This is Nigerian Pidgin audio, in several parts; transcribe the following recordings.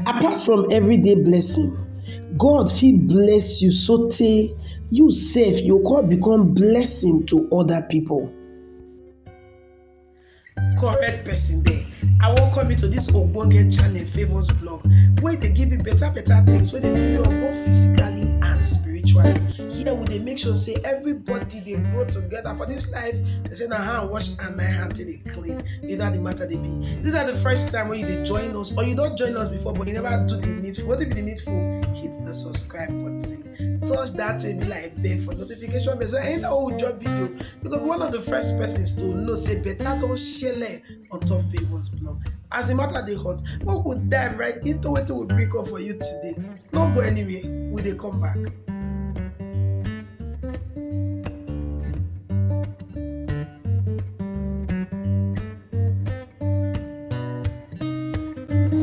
Apart from everyday blessing, God fit bless you so tey you sef you go come become blessing to other people. correct person there i welcome you to this ogbonge channel favours blog wey dey give you better better things wey dey build you up both physically and spiritually here we dey make sure say everybody dey grow together for this life they say na hand wash and na hand take dey clean you know how the matter dey be this na the first time wey you dey join us or you don join us before but you never do the needful wetin be the needful hit the subscribe button touch that baby like bell for notification bell so anytime wey we drop video you go be one of the first persons to know say better don shele on top favours blog as the matter dey hot make we dive right into wetin we bring come for you today no go anywhere we dey come back.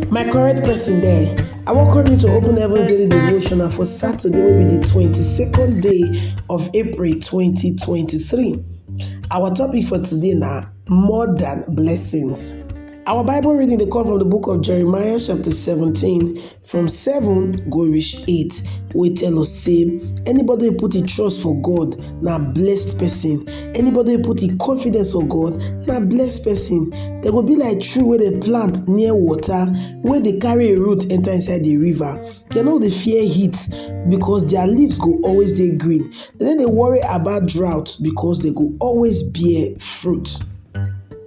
My correct person there, I welcome you to Open Heavens Daily Devotional for Saturday, will be the 22nd day of April 2023. Our topic for today now more than blessings. Our Bible reading they come from the book of Jeremiah, chapter 17, from seven go reach eight wey tell us say anybody wey put im trust for God na blessed person anybody wey put im confidence for God na blessed person dem go be like tree wey dem plant near water wey dey carry im root enter inside the river dem no dey fear heat because their leaves go always dey green dem no dey worry about drought because dem go always bear fruit.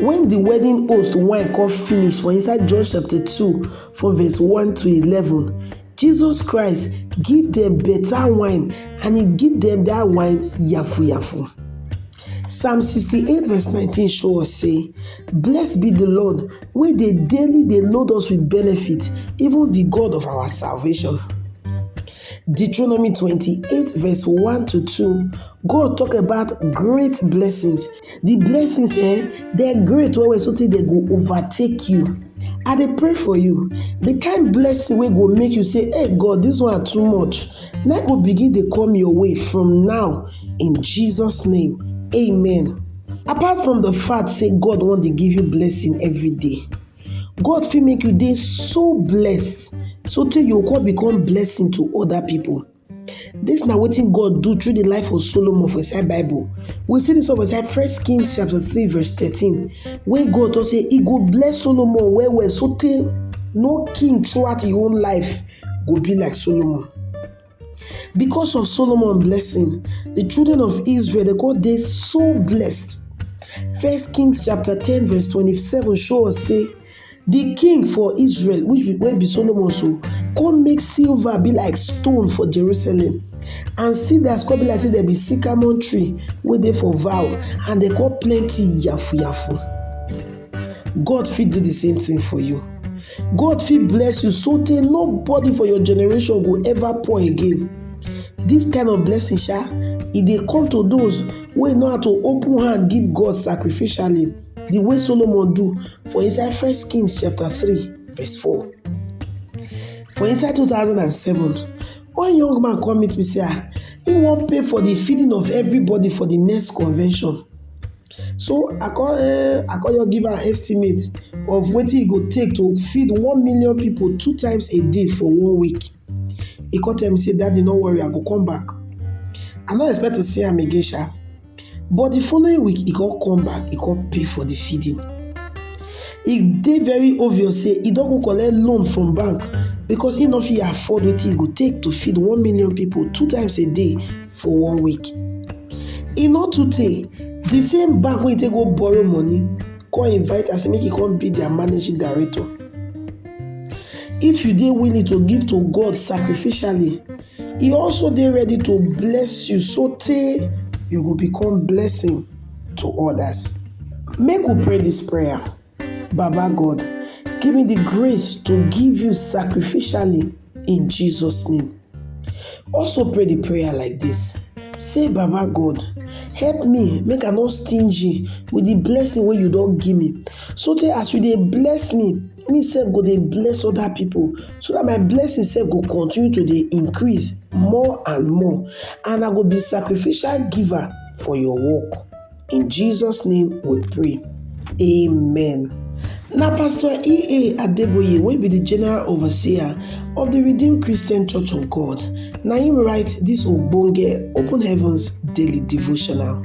Wen di wedding host wine kon finish for inside John chapter two from verse one to eleven, Jesus Christ give dem beta wine and e give dem dat wine yafu-yafu. Psalm sixty-eight verse nineteen show us sey, Blessed be di Lord wey dey daily dey load us with benefit, even di God of our salvation. Deuteronomy twenty-eight verse one to two, God tok about great blessings. The blessings eh, they're great well well so they go overtake you. I dey pray for you. The kind blessing wey go make you say, hey God, this one too much. Na go begin dey come your way from now in Jesus' name. Amen. Apart from the fact say God wan dey give you blessing every day, God fit make you dey so blessed so tey you go come become blessing to other people. Dis na wetin God do through di life of Solomon for inside Bible. We see dis one for inside First Kings chapter three verse thirteen wey God talk say e go bless Solomon well well sotey no king throughout im own life go be like Solomon. Because of Solomon blessing, di children of Israel dey come dey so blessed. First Kings chapter ten verse twenty-seven show us say Di king for Israel wey be Solomon so kon make silver be like stone for Jerusalem and cedars kon be like sey dem be sycamore tree wey dey for vale and dem kon plenty yafuyafu. God fit do di same tin for you, God fit bless you so tey nobody for your generation go ever poor again, dis kind of blessing sha e dey come to dose wey know how to open hand give God sacrificially. the way Solomon do for inside First Kings chapter 3 verse 4. For inside 2007, one young man come meet me say ah, he wan pay for the feeding of everybody for the next convention. So I come uh, I come just give am estimate of wetin e go take to feed one million people two times a day for one week. He come tell me say daddy no worry I go come back. I no expect to see am again sha. but the following week he come come back he come pay for the feeding e dey very obvious say e don go collect loan from bank because e no fit afford wetin e go take to feed one million people two times a day for one week e no too tey the same bank wey e take go borrow money come invite am say make e come be their managing director if you dey willing to give to God sacrificially E also dey ready to bless you so tey you go become blessing to others. Make we pray this prayer. Baba God, give me the grace to give you sacrificially in Jesus name. Also pray the prayer like this. Say Baba God, help me make I no stingy with the blessing wey you don give me so tey as you dey bless me, me sef go dey bless other people so that my blessing sef go continue to dey increase more and more and I go be sacrificial giver for your work. In Jesus name we pray. Amen. Na Pastor E.A. Adeboye wey be the General Overseer of the Redeemed Christian Church of God na him write this ogbonge Open Heavens Daily Devotional.